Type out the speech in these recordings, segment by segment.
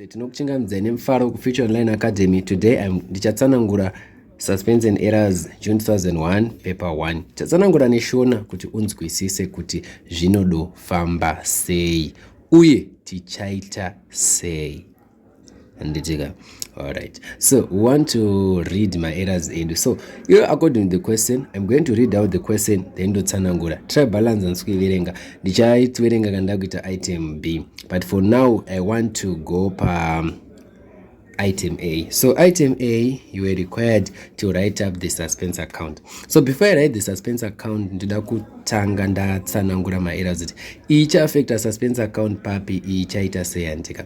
tinokuchingamidzai nemufaro kufuture online academy today um, ndichatsanangura suspense and errors june 2001 paper 1 ndichatsanangura neshona kuti unzwisise kuti zvinodofamba sei uye tichaita sei handitika all right so we want to read my errors edu so you according to the question i'm going to read out the question then ndotsanangura try balance handisi kuiverenga ndichaitwerenga kana ndakuita item b but for now i want to go pa um, item A. So item A, you are required to write up the suspense account. So before I write the suspense account, ndida kutanga ndatsanangura maerrors kuti icha affecta suspense account papi ichaita seyantika.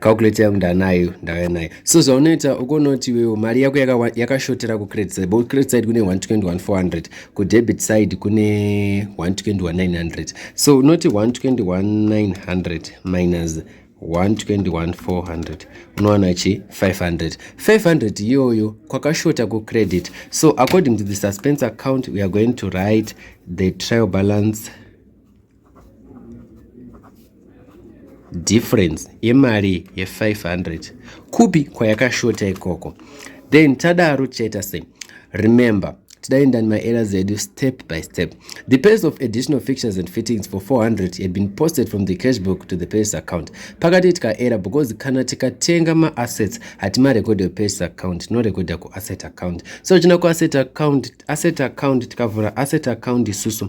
calculator yangu ndanayo ndauya nayo so zvaunoita ukonoti iwewo mari yako yakashotera kucredit side but credit side kune 121400 kudebit side kune 121900 so unoti 121900 minus 121400 unowana chi 500 500 iyoyo kwakashota kucredit so according to the suspense account we are going to write the trial balance difference yemari ye500 kupi kwayakashota ikoko then tadaro tichaita sei remember tidaenda nemaera zedu step by step the pace of additional fictions and fittings for 400 had been posted from the cash book to the purchase account pakati tikaera because kana tikatenga maassets hatimarekodha kupurchase account tinorekodha kuasset account so china kuasset account asset account tikavhura asset account isusu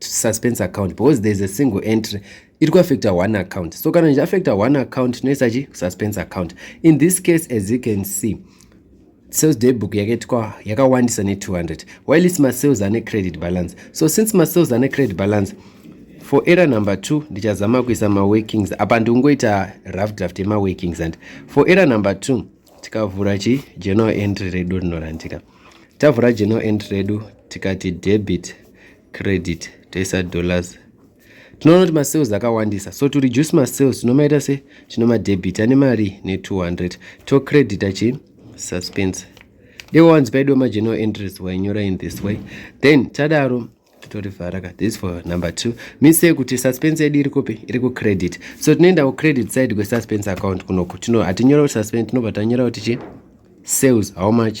suspense account because there's a single entry iri kuaffecta one account so kana zvichiaffecta one account tinoisa chi suspense account in this case as you can see sales day book yakaitwa yakawandisa ne200 while its masales ane credit balance so since masales ane credit balance for error number 2 ndichazama kuisa maworkings apa ndikungoita rough draft yemaworkings and for error number 2 tikavhura chi general entry redu rinorandika tavhura general entry redu tikati debit credit toisa dollars tinoona kuti masales akawandisa so to reduce masales tinomaita se tinomadebita nemari ne200 tocredita chi suspense deko wanzi paidiwa mageneral entries wainyora in this way then tadaro totorivhara ka this for number two means yekuti suspense yedu iri kupi iri kucredit so tinoenda kucredit side kwesuspense account kunoku tino hatinyora kuti suspense tinobva tanyora kuti chi sales how much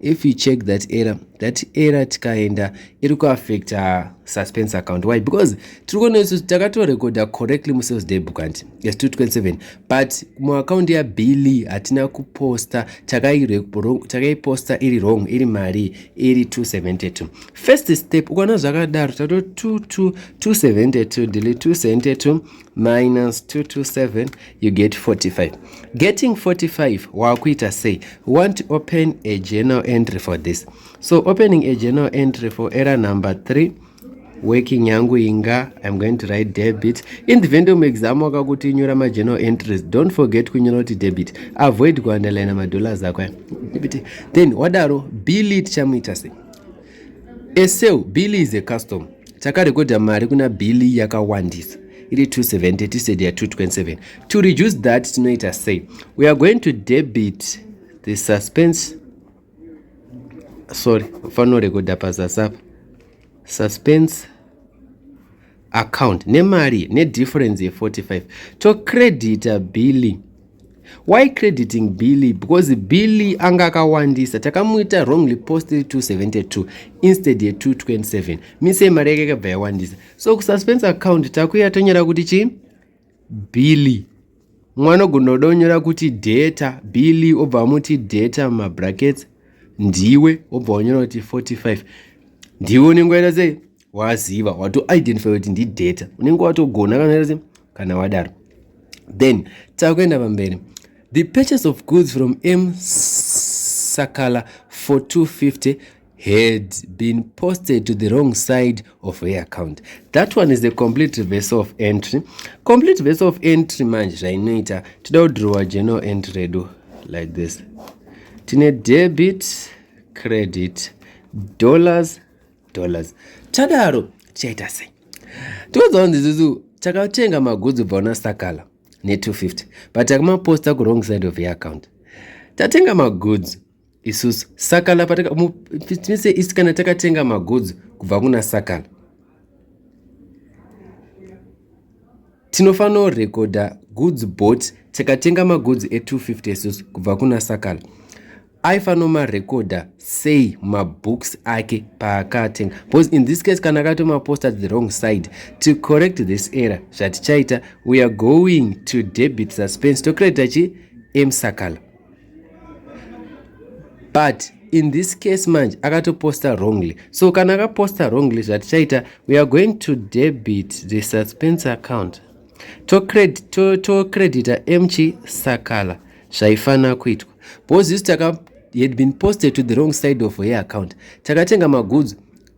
if you check that error that error tikaenda iri kuaffecta suspense account why because tiri kuona isu takatorekodha correctly musales day book anti yes 227 but muaccount yabili hatina kuposta takaiposta iri wrong iri mari iri 272 first step ukaona zvakadaro tato 272 ndili 272 minus 227 you get 45 getting 45 wakuita sei want open a journal entry for this so opening a journal entry for error number 3 working yangu inga i'm going to write debit in the vendom exam wakakuti nyora majournal entries don't forget kunyora kuti debit avoid kuandalayina madollars ako debit then wadaro billit chamuita sei Eseu, Billy is a custom. Takarekodha mari kuna Billy yakawandisa. Iri 270 tisedi ya 227. To reduce that tinoita sei? We are going to debit the suspense. Sorry, fanorekodha pazasapa. Suspense. account nemari nedifference ye45 tocredita billy why crediting billy because billy anga akawandisa takamuita wrongly post 272 instead ye227 mise mari yake ikabva yawandisa so kususpense account takuya tonyora kuti chii billy mwana ogona kuda kunyora kuti data billy obva amuti data mabrackets ndiwe obva wanyora kuti 45 ndiwe unenge waita sei waziva watoidentify kuti ndidata unenge watogona kanaese kana wadaro then takuenda pamberi the purchase of goods from m sakala for 250 had been posted to the wrong side of her account that one is a complete verse of entry complete verse of entry manje zvainoita tida kudrowa general entry redu like this tine debit credit dollars dollars chadaro chaita sei tiudzawo ndizuzu takatenga magudzi ubva una sakala ne250 but takamaposta kuwrong side of your account tatenga magudzi isusu sakala patakmise isi kana takatenga magudzi kubva kuna sakala Tinofano recorder goods bought tikatenga magoods e250 sus kubva kuna Sakala. Aifano marecorder sei mabooks ake paakatenga because in this case kana akato mapost at the wrong side to correct this error zvatichaita we are going to debit suspense tocredita chi msakala but in this case manje akatoposta wrongly so kana akaposta wrongly zvatichaita we are going to debit the suspense account tocredita to, to mchi sakala zvaifanira kuitwa because isu taka had been posted to the wrong side of her account takatenga magudzi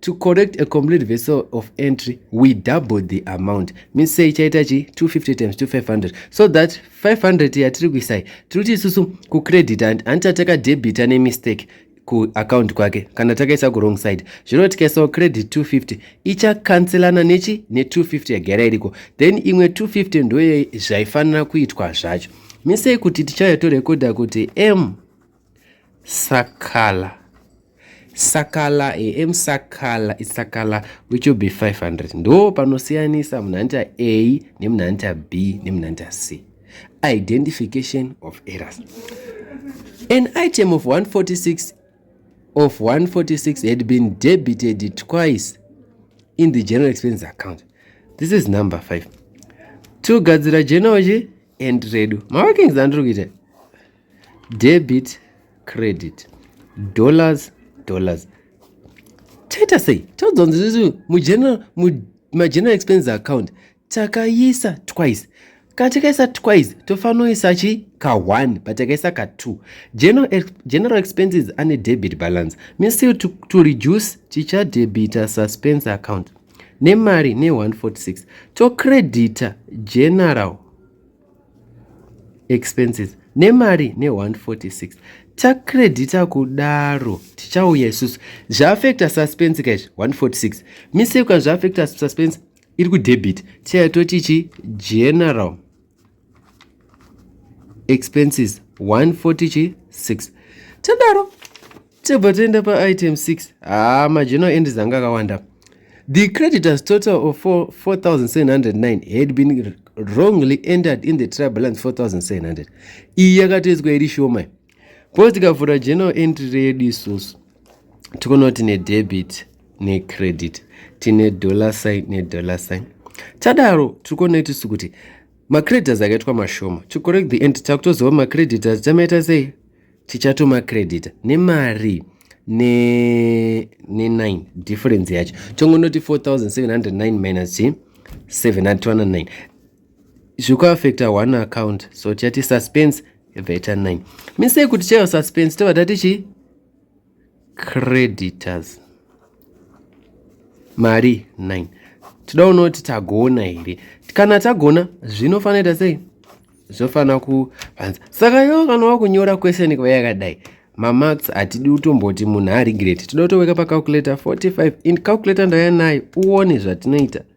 to correct a complete vessel of entry we double the amount means sei chaita chi 250 times 2500 so that 500 yatiri kuisai tiri kuti isusu kucredit and antitateka debita nemistake kuaccount kwake kana takaisa kuwrong side zvino tikaisawo credit 250 ichakanselana nechi ne250 yagara iriko then imwe 250 ndoye zvaifanira kuitwa zvacho misei kuti tichauya torekodha kuti m Sakala. Sakala, I am Sakala, it's Sakala, which will be 500. Ndo panosiyanisa munhu anoita A nemunhu anoita B nemunhu anoita C. Identification of errors. An item of 146 of 146 had been debited twice in the general expense account. This is number 5. Togadzira jenoji and redu. Mawakings andiri kuita. debit credit dollars dollars taita sei taudzonzii mugeneral expenses account takaisa twice katikaisa twice tofanoisa chi ka1 but takaisa ka2 general, general expenses ane debit balance means to, to, to reduce tichadebita suspense account nemari ne146 tocredita general expenses nemari ne146 tacredita kudaro tichauya isusu zvaafecta suspense kaizvi 146 miseka zvaafecta suspense iri kudebit tichaya toti chi general expenses 146 tadaro tebva toenda paitem 6 haa majournal endis anga akawanda the creditors total of 4709 had been wrongly entered in the tri balance 4700 iyi yakatoiswa iri shoma bcause tikavhura journal entry reyedu isusu tikonawo tine debit necredit tine dollar sign nedollar sign tadaro tiri kuona itusu kuti macreditors akaitwa mashoma to correct the end takutozova macreditors tamaita sei tichatoma credit nemari ne ne 9 difference yacho tongonoti 4709 minus chi 709 zvikuaffecta one account so tichati suspense veta 9 misei kuti chaiva suspense tobva tati chii creditors mari 9 tida unoti tagona here kana tagona zvinofanira ita sei zvofanira kuvanza saka yo kana wakunyora question kuva yakadai mamarks hatidi utomboti munhu aregrate tida utoweka pacalculator 45 in calculator ndaya nayo uone zvatinoita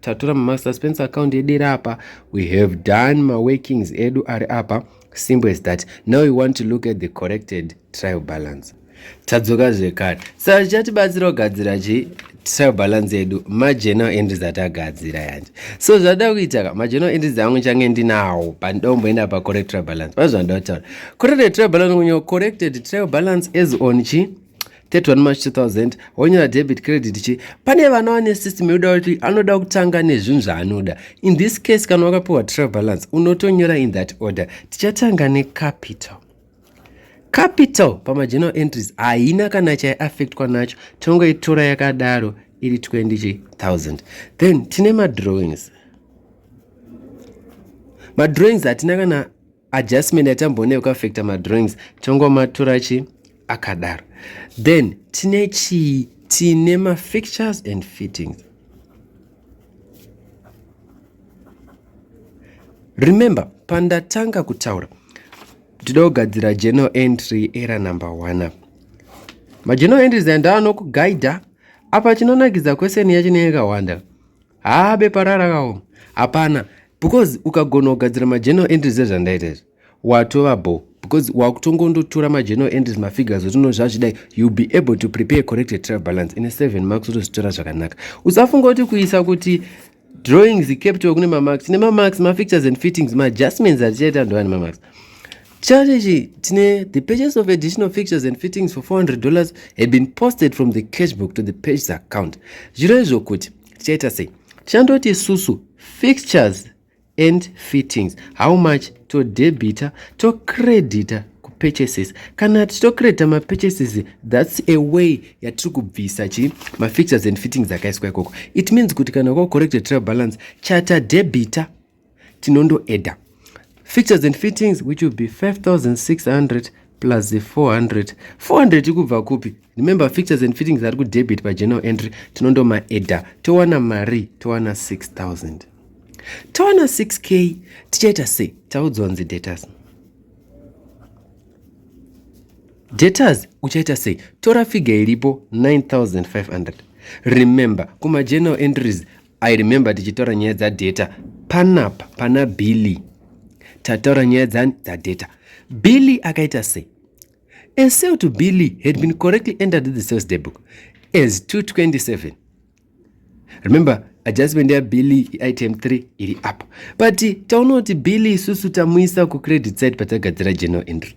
tatora master spence account yedu iri apa we have done maworkings edu ari apa simple as that now we want to look at the corrected trial balance tadzoka zvekare saka zvichatibatsira kugadzira chii trial balance yedu mageneral entries atagadzira yanje so zvada kuita ka mageneral entries angu change ndinawo pandomboenda pacorrect trial balance pazvandataura corrected trial balance kunyo corrected trial balance as on chii 31 march 2000 wonyora debit credit chi pane vana vane system yoda kuti anoda kutanga nezvinhu zvaanoda in this case kana wakapiwa trial balance unotonyora in that order tichatanga necapital capital pamageneral entries haina kana chaiaffectwa nacho tongoitora yakadaro iri 20000 then tine madrawings madrawings hatina kana adjustment yatamboona yekuaffecta madrawings tongomatura chi akadaro then tine chii tine mafixtures and fittings remember pandatanga kutaura tida kugadzira general entry era number one apa mageneral entries andaanokuguida apa chinonakidza question yacho neyakawanda haa bepa rara kawo hapana because ukagona kugadzira mageneral entries ezvandaita izvi watova bo because wakutongondotora mageneral entries mafigures otino zvazvidai you be able to prepare corrected travel balance ine seven marks otozvitora zvakanaka usafunga kuti kuisa kuti drawings capital kune mamarks nemamarks mafixtures and fittings maadjustments atichaita ndovane mamarks Chart ichi chine the purchase of additional fixtures and fittings for 400 dollars had been posted from the cash book to the purchase account zviro izvo kuti tichaita sei tichandoti isusu fixtures and fittings how much to debita to credita purchases kana tichitocredita mapurchases thats a way yatiri kubvisa chi mafixtures and fittings akaiswa ikoko it means kuti kana kwakucorrected trail balance chatadebita tinondoedha features and fittings which will be 5600 plus the 400 400 ikubva kupi remember features and fittings ari kudebit pageneral entry tinondomaedha towana mari towana 6000 towana 6k tichaita sei taudzwa nzi datas datas uchaita sei tora figa iripo 9500 remember kumageneral entries I remember tichitaura nyaya dzadata panapa pana billy tataura nyaya dzani dzadata billy akaita sei a sale to billy had been correctly entered in the sales day book as 227 remember adjustment yabilly item 3 iri apo but taona kuti billy isusu tamuisa kucredit side patagadzira general entry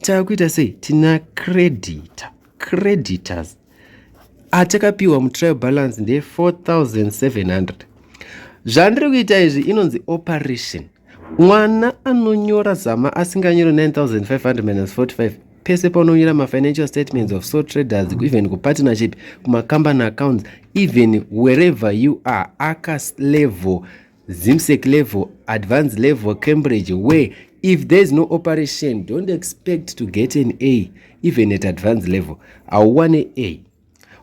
takuita sei tina creditor creditors atakapiwa mutrial balance ndeye 4700 zvandiri kuita izvi inonzi operation mwana anonyora zama asinganyori 9545 pese paunonyora mafinancial statements of so traders even kupartnership kumacompany accounts even wherever you are akaslevel zimsec level advanced level cambridge where if there is no operation don't expect to get an a even at advanced level hauwane a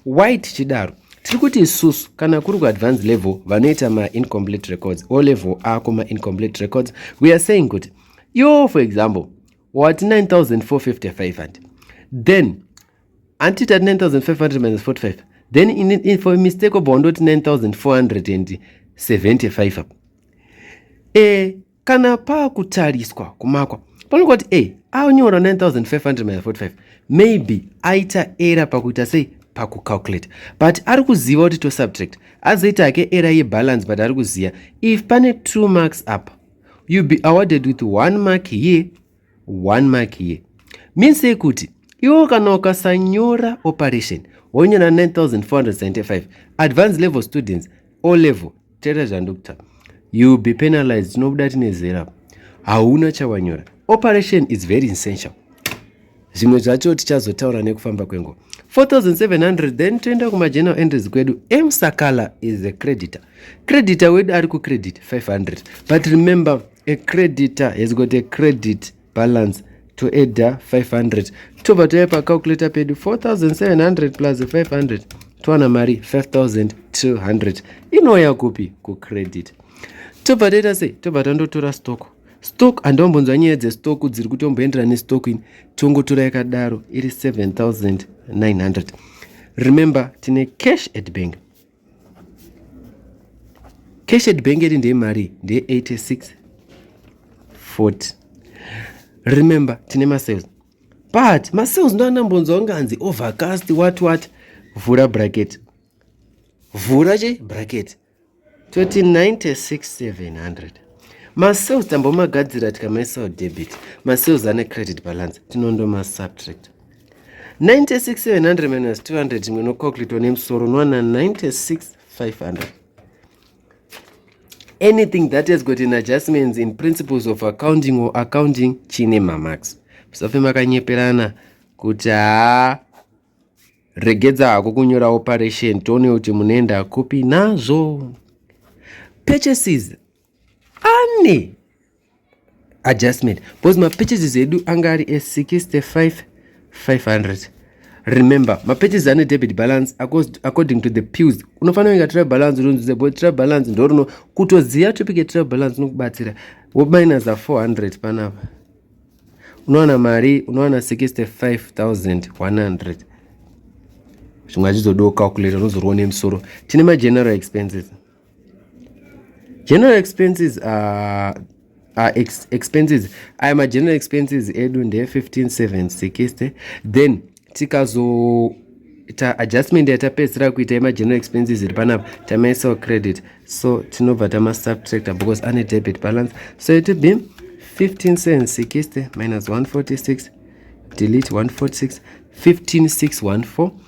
why tichidaro tiri kuti isusu kana kuri kuadvanced level vanoita maincomplete records o level ako maincomplete records we are saying kuti yo for example wati 9455 and then anti tati 9545 then in, in, for mistake wabva wandoti 9475 apa e kana pakutariswa kumakwa panokuva kuti e anyora 9545 maybe aita era pakuita sei pakucalculate but ari kuziva kuti tosubtract azoita hake era yebalance but ari kuziva if pane two marks apa you be awarded with one mark here one mark here means yekuti iwo kana ukasanyora operation wonyora 9475 advance level students o level tera zvandokta you be penalized tinobuda tine zera hauna chawanyora operation is very essential zvimwe zvacho tichazotaura nekufamba kwenguva 4700 then toenda kumageneral entries kwedu msakala is a creditor creditor wedu ari kucredit 500 but remember a creditor has got a credit balance to eda 500 tobva tave pacalculator pedu 4700 plus 500 towana mari 5200 inouya kupi kucredit tobva taita sei tobva tandotora stock stock handaombonzwa nyaya dzestock dziri kutomboendera nestock ini tongotora yakadaro iri 7900 remember tine cash at bank cash at bank yedu ndeyemari ndeye 86 40 remember tine masales but masales ndoanambonzwa unganzi overcast what what vhura bracket vhura che bracket toti 96700 masales tambomagadzira tikamaisao debit masales ane credit balance tinondomasubtract 96700 minus 200 imwe inocalculatwa nemusoro unowana 96500 anything that has got an adjustments in principles of accounting or accounting chine mamax musafe makanyeperana kuti haa regedza hako kunyora operation tione kuti munoenda kupi nazvo purchases ane adjustment because mapurchases edu anga ari e65 500 remember mapurchases ane debit balance according to the pills unofanira kuinga trial balance unonzwisa bo trial balance ndorino kutoziva topic yetrial balance unokubatsira wominus a 400 panapa unowana mari unowana 65100 zvimwe achizodowo calculator unozorwa nemusoro tine mageneral expenses general expenses are, are ex, expenses aya mageneral expenses edu ndee 15760 then tikazo ta adjustment yatapedzisira kuita yemageneral expenses iri panapa tamaisawo credit so tinobva tamasubtractor because ane debit balance so it be 15760 minus 146 delete 146 15614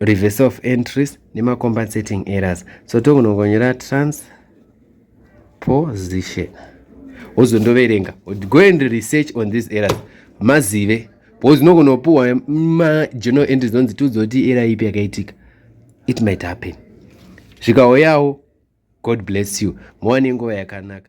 reverse of entries nemacompensating errors so tokunongonyera transposition wozondoverenga go and research on these errors mazive because nokunopuwa majournal entries onzi tiudzoti era ipi yakaitika it might happen zvikauyawo god bless you mowane nguva yakanaka